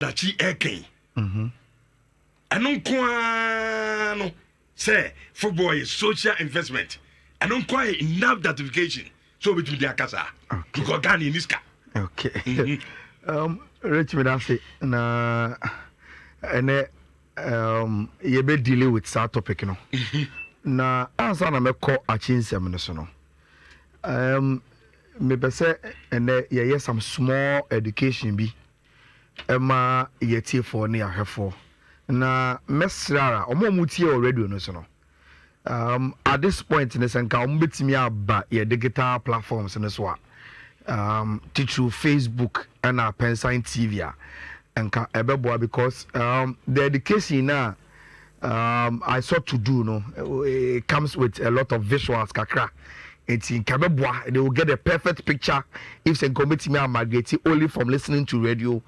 dakyi ɛka yi mhm. ɛno nko ara no sɛ football yɛ social investment ɛno nko ara yɛ enough justification sɛ obɛtumi de aka saa because ghana ɛni sika okay. Mhm. um, rich me ase na ɛnɛ um, yɛbɛ deal with saa topic no mhm. na ansa na mɛkɔ akyi nsɛm no so no um, mepɛ sɛ ɛnɛ yɛyɛ some small education bi ɛma yɛ atiefoɔ ne yɛ ahwɛfoɔ na mɛsrɛ ara wɔn a wɔn tie wɔ radio no so no um, at this point no sɛ nka wɔn bɛtumi aba yɛ digital platforms no so a um, titiriw facebook ɛna pɛnsan tv a nka ɛbɛboa because um, the education na um, I saw to do no it comes with a lot of visuals kakra nti nka bɛboa they will get a perfect picture if sɛ nka wɔbɛtumi a migrate only from listening to radio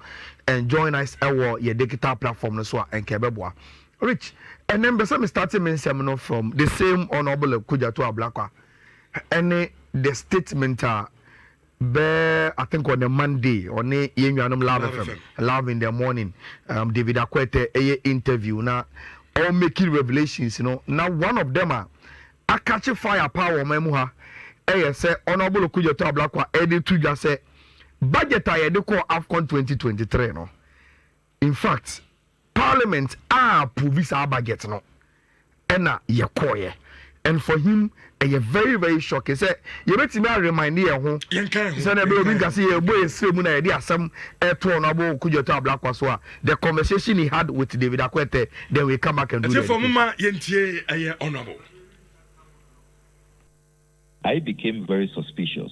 and join us ɛwɔ yɛ digital platform no so a nka bɛboa rich ɛnɛ mbɛ sɛ me starting me nsɛm no from the same honourable kudjato ablakwa ɛne the statement a Bɛ I think on a Monday ɔne yɛn nuanom Love FM Love in the morning um, David Akoetɛ ɛyɛ interview na ɔɔ make revelations no na one of them a akakye fire paa wɔ ɔman mu ha ɛyɛ sɛ Honourable Okudzeto Ablakwa ɛde to dwa sɛ budget a yɛde kɔɔ Afcon twenty twenty three no In fact parliament a approve saa budget no ɛna yɛ kɔɔyɛ and for him ɛyɛ very very shocking sɛ yɛbɛtumi a remind yɛn ho sɛ na ɛbɛyɛ obi nka sɛ yɛbɔ yɛn srɛ mu na yɛde asɛm ɛto ɔno abɔ Kudjɔtɔ Ablakwa so a the conversation he had with David Akwete then we come back and do the ɛtiɛfoɔ mo ma yɛntie ɛyɛ honourable. I became very suspicious.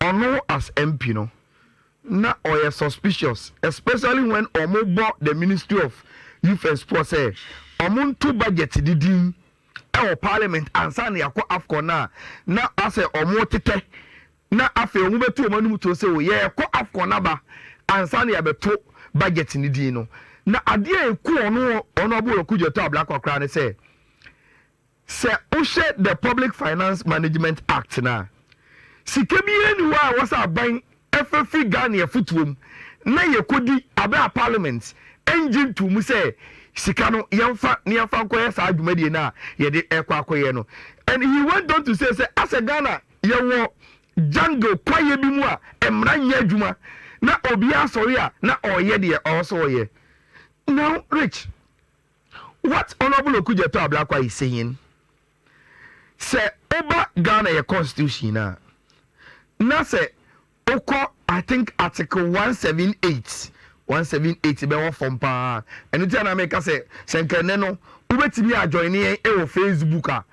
Ɔno as MP no na ɔyɛ suspicious especially when ɔmo bɔ the ministry of youth and sport sɛ ɔmo nto budget no din ɛwɔ parliament ansa na yɛakɔ Afcon no a na asɛ ɔmo tetɛ na afei ɔmo bɛto ɔmo anom tuo sɛ o yɛɛkɔ Afcon aba ansa na yɛabɛto budget no din no na adeɛ a ɛku ɔno Honourable Ɔku Gyatɔ Ablakwa koraa ne sɛ Sɛ wohwɛ the Public Finance Management Act no a, sika biara nni hɔ a ɛwɔ sɛ aban fa firi Ghane afotuo mu na yɛkɔdi aberɛ a Parliament ngye ntoo mu sɛ sika no yɛmfa na yɛmfa nkɔyɛ saa dwumadie no a yɛde ɛkɔ akɔyɛ no. And he went on to say sɛ asɛ Ghana yɛwɔ jungle kwaeɛ bi mu a mmara nyɛ adwuma na obiara sɔre a na ɔreyɛ deɛ ɔwɔ sɛ ɔyɛ. Now Rich, What Honourable Okudzeto Ablakwa is saying, sɛ woba Ghana yɛ constitution no a, na sɛ wokɔ I think article one one seven eight one seven eight bɛ wɔ fam paa, ɛno nti a na meka sɛ sɛ nka ɛnɛ no wobɛtumi a join yɛn wɔ Facebook a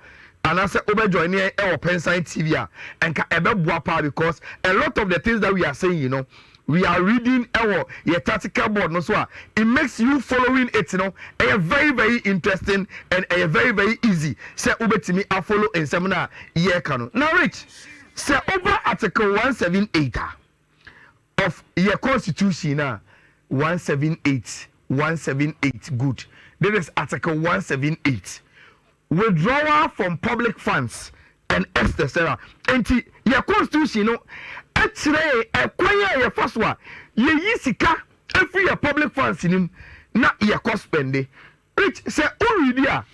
anaasɛ wobɛ join yɛn wɔ Pensan TV a nka ɛbɛboa paa because a lot of the things that we are saying no We are reading ɛwɔ yɛ tactical board no so a, it makes you following it no ɛyɛ very very interesting and ɛyɛ very very easy sɛ wobɛtumi a follow nsɛm no a yɛreka no. Na Rich, sɛ woba Article one seven eight a of yɛ Constitution no a, one seven eight, one seven eight, good, this is Article one seven eight. Withdrawal from public funds and etc. Enti yɛ Constitution no kyerɛ yɛn ɛkwan a yɛfa so a yɛyi sika firi yɛ public funds no mu na yɛkɔ spɛnde. Which sɛ wo readi a,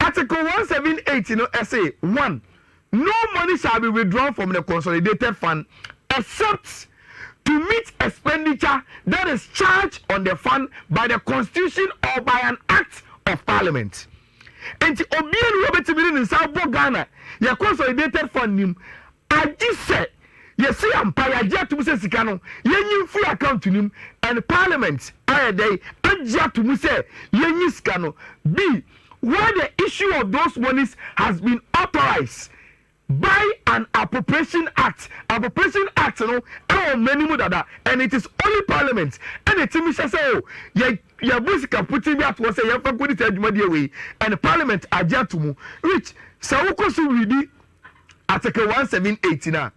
Article one seven eight no se, one, No money shall be withdrawn from the consolidated fund except to meet expenditure that is charged on the fund by the constitution or by an act of parliament. Nti obi ani hɔ betumi de ne nsa abɔ Ghana yɛ consolidated fund nim agye sɛ yɛsi yɛn mpa yɛagye atum sɛ sika no yɛnyi mfiri account nim and parliament ayɛ dɛn agye atum sɛ yɛnyi sika no bi where the issue of those monies has been authorised by an appropriation act, appropriation act no ɛwɔ mmara no mu dada and it is only parliament ɛna ɛtumi hyɛ sɛ o yɛ yɛbu sika putee bi ato hɔ sɛ yɛmfa nkɔdi saa adwumadeɛ wei and parliament agye ato mu which sɛ wokɔ so redi article one seven eight no a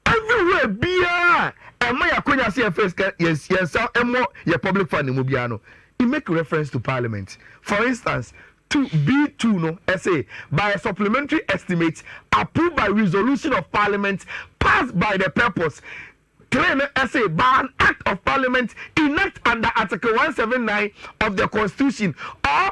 Everywhere biara a ɛma yɛ akwanya sɛ yɛmfa yɛ sika yɛn yɛn nsa mmɔ yɛ public funding mu biara no, it make reference to parliament. For instance, two, B two no, ɛse, by a supplementary estimate approved by resolution of parliament passed by the purpose, three no, ɛse, by an act of parliament enact under article one seven nine of the constitution or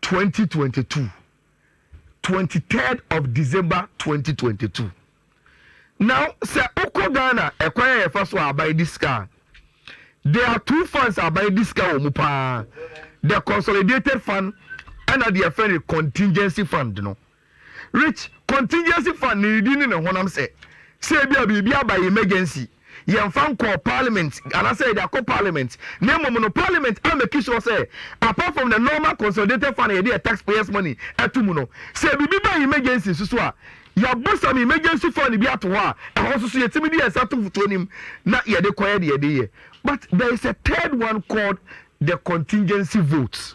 twenty twenty two twenty third of december twenty twenty two na sɛ wokɔ ghana ɛkwan a yɛfa so a aban di sika a there are two funds a aban di sika wɔ mu paa the consolidated fund ɛna deɛ ɛfɛ no contingency fund no Rich, Contingency fund ne nidi ne ne honam sɛ sɛ ebia biribi aba emergency, yɛmfa nkɔɔ Parliament anaasɛ yɛde akɔ Parliament na mmom no Parliament a make sure sɛ apart from the normal consolidated fund a yɛde yɛ taxpayers money to mu no, sɛ biribi ba emergency nso so a, yɛabɔ some emergency fund bi ato hɔ a ɛhɔ nso so yɛtumi de yɛn nsa to mfotuo no mu na yɛde kɔyɛ deɛ yɛde yɛ. But there is a third one called the contingency vote.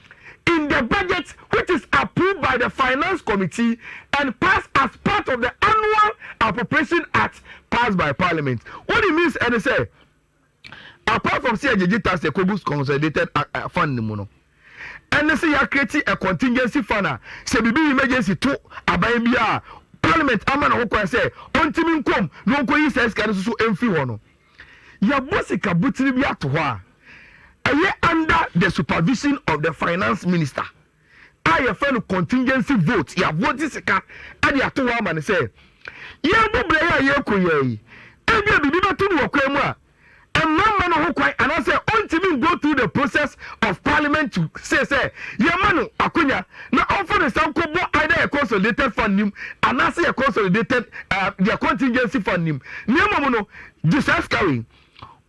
in the budget which is approved by the finance committee and passed as part of the annual appropriation act passed by parliament. What it means ɛne sɛ apart from sɛ yɛgyegye tax ɛkɔgu consolidated uh, uh, fund no mu no ɛne sɛ yɛakreti a contingency fund a sɛ biribi emergency to aban bi a parliament ama no ho kwan sɛ ɔntumi nkom na ɔnkɔyi saa sika no so so ɛmfiri hɔ no Yɛbɔ sika botire bi ato hɔ a, ɛyɛ under the supervision of the finance minister a yɛfrɛ no contingency vote. Yɛabɔgye sika de ato hɔ ama no sɛ yɛrebɔ beaeɛ a yɛrekɔ yi ara yi. Ebia biribi bɛto no wɔ kwan mu a, ɛmma mma no ho kwan anaasɛ ɔntumi ngo through the process of parliament to say sɛ yɛmma no akwanya na ɔmfa ne nsa nkɔbɔ either yɛn consolidated fund nim anaasɛ yɛn consolidated uh, yɛn contingency fund nim na mmom no gye saa sika wei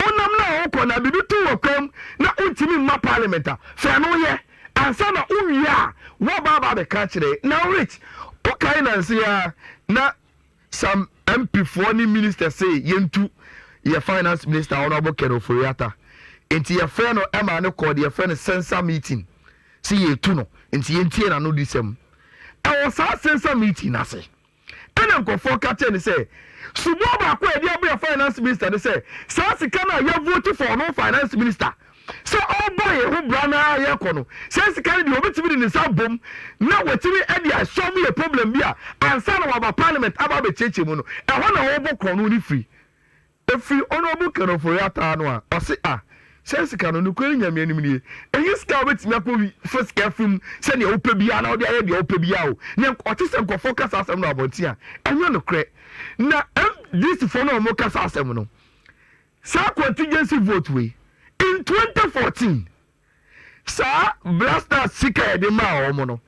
wonam na wokɔ na biribi to wɔ kwam na wontumi mma parliament a fɛ no yɛ ansa na wowie a woaba aba abɛka kyerɛ na rich wokae nanse a na Some MP foɔ ne ministers se yɛntu yɛ finance minister Honourable Ken Ofori Atta nti yɛfrɛɛ no ɛmaa no kɔɔ deɛ yɛfrɛ no censor meeting se yɛretu no nti yɛntie n'ano disɛm. Ɛwɔ saa censor meeting no ase ɛna nkurɔfoɔ ka kyerɛɛ no sɛ suboɔ baako a yɛde abrɛ finance minister ne sɛ saa sika no a yɛavote for no finance minister sɛ ɔrebɔ yɛn ho bra no ara a yɛrekɔ no, saa sika no deɛ ɔbɛtumi de ne nsa abom na watumi de asɔm yɛ problem bi a ansa na waba parliament aba abɛkyiakyia mu no, ɛhɔ na ɔrebɔ korɔn no ne firi. Ɛfiri Honourable Ken Ofori Ataa no a ɔse ah, saa sika no nokorɛ no Nyame anim nie, ɛnyɛ sika a wobɛtumi akɔ fa sika afiri mu sɛdeɛ wopɛ biara na wode ayɛ deɛ wopɛ biara o, na ɔte sɛ nkorɔfoɔ ka saa asɛm no wɔ abɔnten a, ɛnyɛ nokorɛ. Na MDCfoɔ no a wɔka saa asɛm no, Saa contingency vote wei in twenty fourteen saa Black Stars sika yɛde maa wɔn no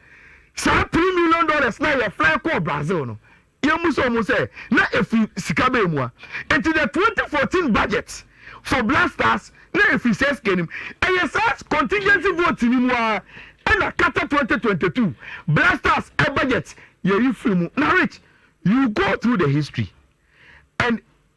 saa three million dollars na yɛ fly kɔɔ Brazil no yɛn mu sɛ wɔn sɛ na efi sika bɛyɛ mu a nti the twenty fourteen budget for Black Stars na efi sɛ sika nim ɛyɛ saa contingency vote ni mu a ɛna kata twenty twenty two Black Stars ɛ budget yɛyi firi mu na rich you go through the history and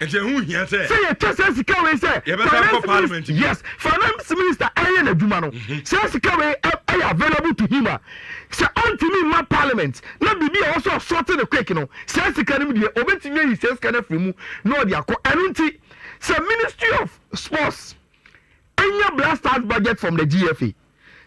Nti ɛho hia sɛ. Sɛ yɛtwa saa sika wei sɛ. Yɛbɛsan akɔ finance parliament minister, bio. yes, finance minister ɛyɛ n'adwuma no, saa sika wei ɛ, ɛyɛ available to him a, sɛ ɔntumi mma parliament, na biribi a ɛwɔ sɛ ɔsɔɔte no quick no, saa sika no mu deɛ, ɔbɛtumi ayi saa sika no afiri mu na ɔde akɔ. Ɛno nti, sɛ ministry of sports nya blasters budget from the GFA,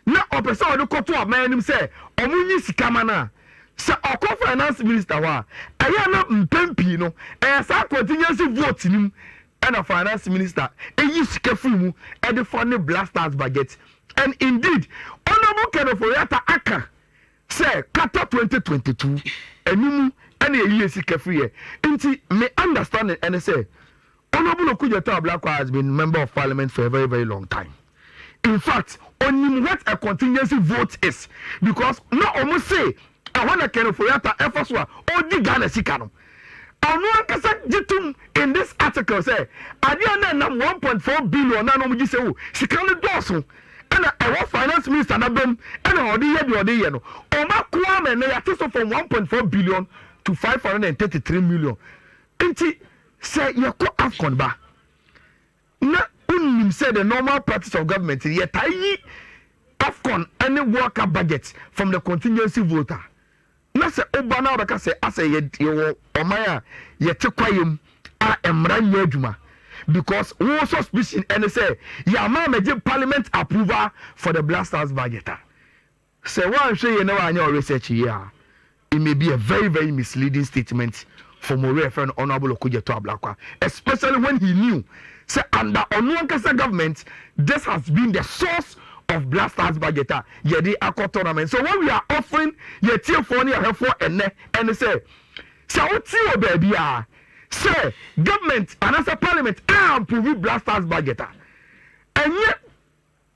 na ɔpɛ sɛ ɔde kɔto aban anim sɛ wɔnyi sika ma no a, sɛ ɔkɔ finance minister hɔ a, ɛyɛ a na mpɛn pii no ɛyɛ saa contingency vote no mu na finance minister yi sika firi mu de fa ne blasters budget. And indeed, Honourable Kenneth Oriatta aka sɛ kata 2022 ɛno mu na yɛyie sika firiɛ. Nti me understanding ɛne sɛ Onobulo Kujetao Ablakwa has been member of parliament for a very very long time in fact onim what a contingency vote is because na ɔmo se ɛhɔ na Ken Ofori-Atta ɛfa so a ɔredi Ghana sika no. Ɔno ankasa gye tom in this article sɛ adeɛ a na ɛnam one point four billion na na ɔmo gye sɛ o sika no dɔɔso ɛna ɛhɔ finance minister na bam ɛna ɔde yɛ deɛ ɔde yɛ no ɔmo akoa ama ɛnɛ yɛate so from one point four billion to five hundred and thirty three million nti Sɛ yɛkɔ Afcon ba na wonim sɛ the normal practice of government no yɛtaa yi Afcon ne World Cup budget from the contingency vote a, na sɛ woba na wobɛka sɛ asɛ yɛwɔ ɔman a yɛte kwaeɛ mu a mmara nyɛ adwuma because wo suspicion ne sɛ yɛama amɛgye parliament approval for the Black Stars budget a, Sɛ woanhwɛ yie na woanyɛ wo research yie a, it may be a very very misleading statement from obi a yɛfrɛ no Honourable Okudzeto Ablakwa, especially when he knew sɛ under ɔno ankasa government this has been the source of Black Stars budget a yɛde akɔ tournament. So what we are offering yɛn atiefoɔ ne yɛn ahwɛfoɔ ɛnnɛ ɛne sɛ, sɛ wote wɔ baabiara sɛ government anaasɛ parliament a approve Black Stars budget a, ɛnyɛ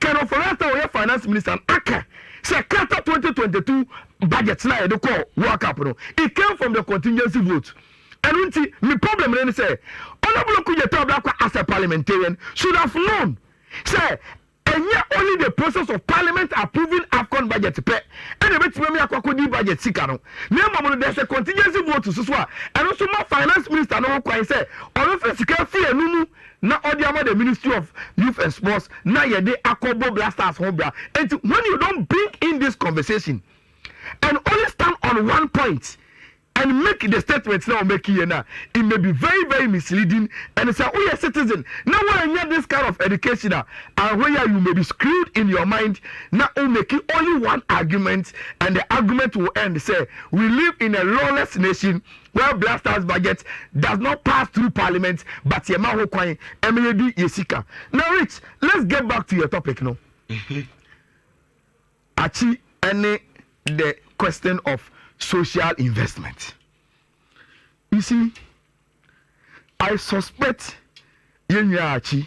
Ken Ofori-Atta a ɔyɛ Finance Minister no aka sɛ Qatar twenty twenty two budget no a yɛde kɔɔ World Cup no, it came from the contingency vote. Ɛno nti, me problem no ne sɛ, Honourable Okudzeto Ablakwa as a parliamentarian should have known sɛ ɛnyɛ only the process of parliament approving Afcon budget pɛ ɛna ɛbɛtumi ama yɛakɔ akɔdi budget sika no, na mmom no there's a contingency vote nso so a ɛno nso ma Finance Minister no ho kwan sɛ ɔbɛfa sika afiri ɛno mu. na ɔde ama the ministry of youth and sports na yɛde akɔ bɔ black stars ho bra nti when you don bring in this conversation and only stand on one point and make the statement na ɔmɛki yɛ na it may be very very misleading and sɛ woyɛ citizen na woanya this kind of education a ahoɛ yɛ you may be screwed in your mind na womɛki only one argument and the argument will end sɛ we live in a lawless nation Well blasters budget does not pass through parliament but yɛ ma ho kwan ɛmɛ yɛ di yɛ sika na rich let's get back to your topic no mhm. akyi ɛne the question of social investment you see i suspect yɛn nyinaa akyi.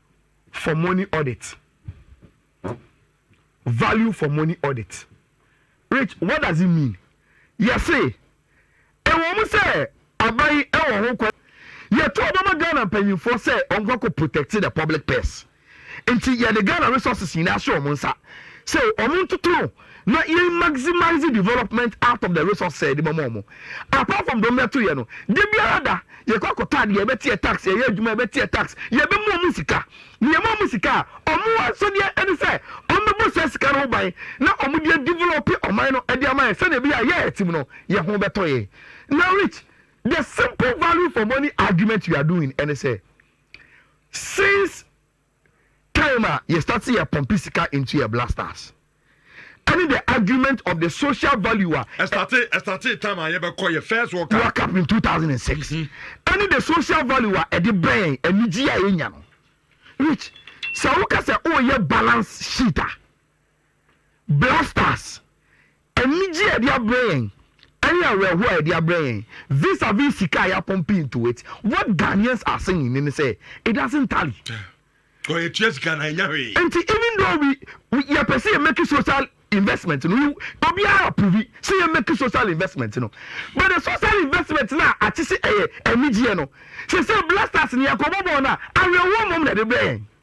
for money audit value for money audit rich what does it mean yɛse ɛwɔ mu sɛ aban ɛwɔ ho kwan yɛto ɔbɛma ghana mpanyinfoɔ sɛ ɔnkɔ kɔ protect the public purse nti yɛde ghana resources nyinaa hyɛ wɔn nsa sɛ wɔn ntoto no na yɛn maximize development out of the resources a yɛde bɛma wɔn apart from deɛ wɔbɛto yɛ no de biara da yɛkɔ akɔtɔ adeɛ yɛbɛteɛ tax yɛyɛ adwuma yɛbɛteɛ tax yɛbɛmu wɔn sika na yɛma wɔn sika a wɔn asɔdeɛ ɛne sɛ wɔn bɛbɔ saa sika no ho ban na wɔn deɛ develop ɔman no ɛde ama yɛ sɛdeɛ ebi a yɛ ɛtim no yɛ ho bɛtɔ yɛ na rich the simple value for money argument we are doing ɛne sɛ since time a yɛ start yɛ pumpi sika into yɛ blasters ɛne the argument of the social value a ɛstate ɛstate time a yɛbɛkɔ yɛ first world cup world cup in two thousand and six ɛne the social value a ɛde bɛn anigye a yɛnya no rich sɛ woka sɛ woyɛ balance sheet a. Black Stars, Anigye a yɛde abrɛ yɛn ne awerɛhoɔ a yɛde abrɛ yɛn vis-a-vis sika a yɛapɔmpe into it, what Ghanaians are saying ne ne sɛ, it doesn't tally. Ɔ yɛtua sika anaa yɛnya hwee. Nti even though we, we yɛpɛ sɛ yɛ make social investment no, obiara approve sɛ yɛ make social investment no, but the social investment no a akye sɛ ɛyɛ anigyeɛ no, sɛ sɛ Black Stars no yɛkɔbɔ bɔɔl no a, awerɛhoɔ mmom na yɛde brɛ yɛn.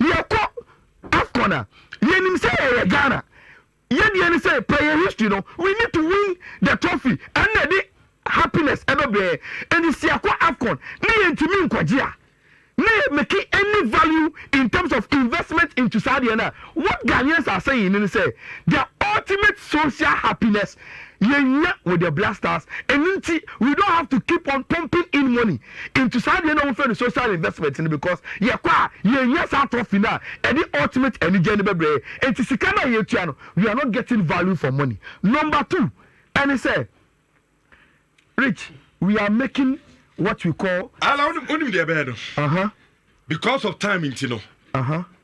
Yɛkɔ Afcon a yɛnim sɛ ɛyɛ Ghana yɛdeɛ ne sɛ yɛpɛ yɛn history no we need to win the trophy ɛno na ɛde happiness ɛbɛbrɛ yɛn ɛnti sɛ yɛkɔ Afcon ne yɛntumi nkɔgye a ne yɛ make any value in terms of investment into saa deɛ no a what Ghanaians are saying ne sɛ their ultimate social happiness Yɛnyɛ wo deɛ Black Stars, ɛno nti we don't have to keep on pumping in money into saa deɛ na wɔfrɛ no social investment no because yɛkɔ a yɛnnya saa trophy no a ɛde ultimate anigyeɛ no bɛbrɛ yɛn. Ɛnti sika no a yɛtua no, we are not getting value for money. Number two ɛne sɛ, Rich, we are making what we call. Ala, wonim deɛ ɛbɛyɛ no? Aha. Because of time nti no. Aha.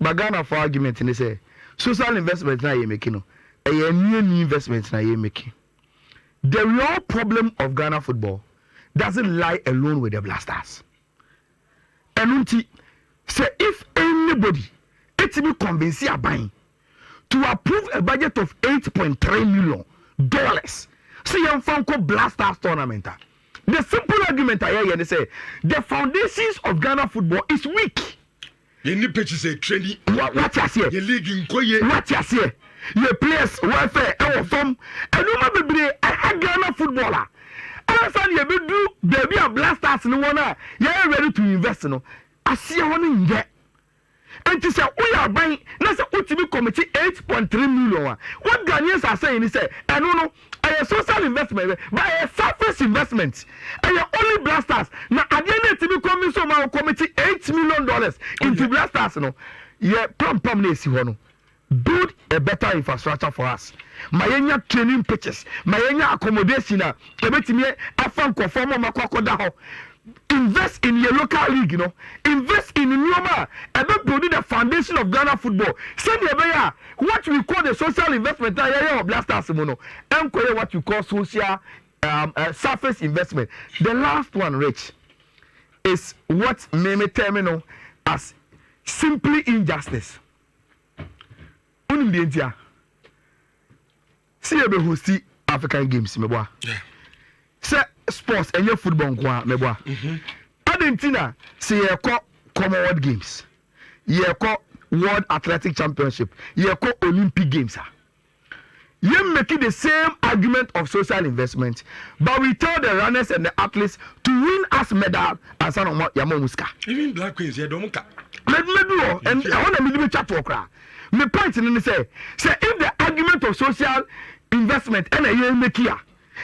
But Ghana foɔ argument ne sɛ social investment no a yɛ make no ɛyɛ annuannu investment na yɛ make. The real problem of Ghana football doesn't lie alone with the Black Stars. Ɛno nti sɛ if anybody ɛtumi convince aban to approve a budget of eight point three million dollars sɛ yɛmfa nkɔ Black Stars tournament a, the simple argument a yɛyɛ ne sɛ the foundations of Ghana football is weak. Yɛn ne pɛkyi sɛ trani. Wa, wate aseɛ? Yɛn league nkɔ yie. Wate aseɛ? Yɛ players welfare ɛwɔ fam. Nneɛma bebree ɛha Ghana football a ansa na yɛbɛduru baabi a Black Stars ne wɔn a yɛyɛ ready to invest no aseɛ hɔ no nyɛ Enti sɛ woyɛ aban na sɛ wotumi kɔmikye eight point three million a, wo Ghanaian sasae ni sɛ ɛno no ɛyɛ social investment bɛ, but ɛyɛ selfish investment. Ɛyɛ only Blastars na adeɛ no ɛtumi convince wɔn ma wɔkɔmikye eight million dollars into Blastars no, yɛ pampam na ɛsi hɔ no. Build a better infrastructure for us, ma yɛnya training pitches, ma yɛnya accommodation a ɛbɛtumi afa nkurɔfoɔ ma wɔakɔ akɔda hɔ, invest in yɛ local league no, invest in nneɛma a ɛbɛ build the foundation of Ghana football sɛdeɛ ɛbɛyɛ a what we call the social investment a yɛyɛ wɔ Black Stars mu no ɛnkɔyɛ what we call social um, uh, surface investment. The last one, Rich, is what me me term no as simply injustice. Wonim deɛ ntia sɛ yɛbɛ hosti African games meboa sɛ sports ɛnyɛ football nko a meboa mhm. adɛn nti na sɛ yɛkɔ Commonwealth games yɛkɔ World Athletic Championship yɛkɔ Olympic games a Yɛn make the same argument of social investment but we tell the runners and the athletes to win us medal ansa na wɔn yɛama wɔn sika. Even black queens yɛ dɔm ka. Mɛdumɛdu hɔ and ɛhɔ na mede bɛtwa toɔ koraa. Me point no ne sɛ sɛ if the argument of social investment ɛna yɛn make a.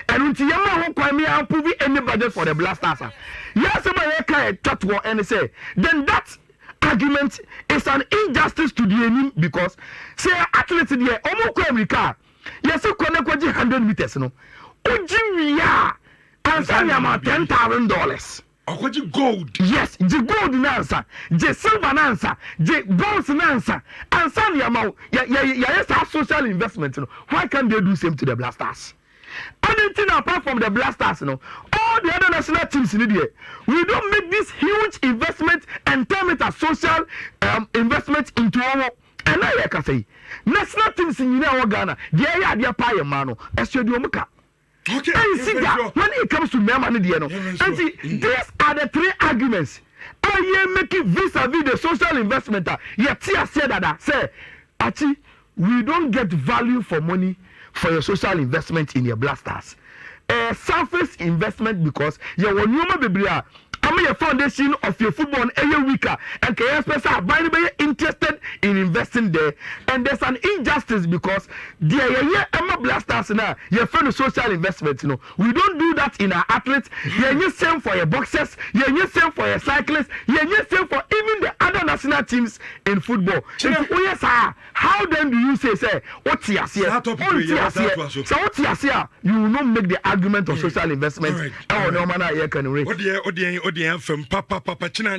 Ɛno nti yɛmma ho kwan ma yɛaprove any budget for the Blasters a. Yɛn asɛm a yɛka yɛ twa toɔ ɛne sɛ then that argument is an injustice to deɛ ɛnim because sɛ yɛ athletes deɛ ɔmo kɔ amirika a yɛse kɔ na kɔgye hundred meters no wogye wie a ansa nneɛma ten thousand dollars. Ɔkɔgye gold. Yes, gye gold no ansa, gye silver no ansa, gye bonds no ansa, ansa na yɛama wo. Yɛ, yɛ, yɛayɛ saa social investment no. Why can't they do same to the Blasters? Adɛn nti na apart from the Blasters no, all the other national teams no deɛ, we don't make this huge investment and term it as social um, investment into wɔn. Ɛna yɛ kasa yi, national teams nyinaa wɔ Ghana deɛ ɛyɛ adeɛ paa yɛ mmaa no, ɛsoɛ deɛ wɔn ka. Ɛnsi da when it comes to mmarima no deɛ no. Ɛnti these are the three arguments a yɛ make vis a vis the social investment a yɛ te aseɛ dada sɛ akyi we don't get value for money for your social investment in your black stars ɛyɛ surface investment because yɛwɔ nneɛma bebree a Ɔmo yɛ foundation of yɛ football no ɛyɛ week a ɛnka yɛ spɛ sɛ aban no bɛyɛ interested in investing there and there's an injustice because deɛ yɛyɛ ɛma blasters no a yɛfrɛ no social investment no we don't do that in our athletes yɛnyɛ same for yɛ boxers yɛnyɛ same for yɛ cyclists yɛnyɛ same for even the other national teams in football nti woyɛ saa a How then do you say sɛ wo te aseɛ? Saa topic wei yɛbɛsan atoa so. Wonte aseɛ. Sɛ wo te aseɛ a, you will not make the argument of social investment ɛwɔ nneɛma no a yɛreka no. Wo deɛ, wo deɛ, wo deɛ, afa mu papapapa kyena.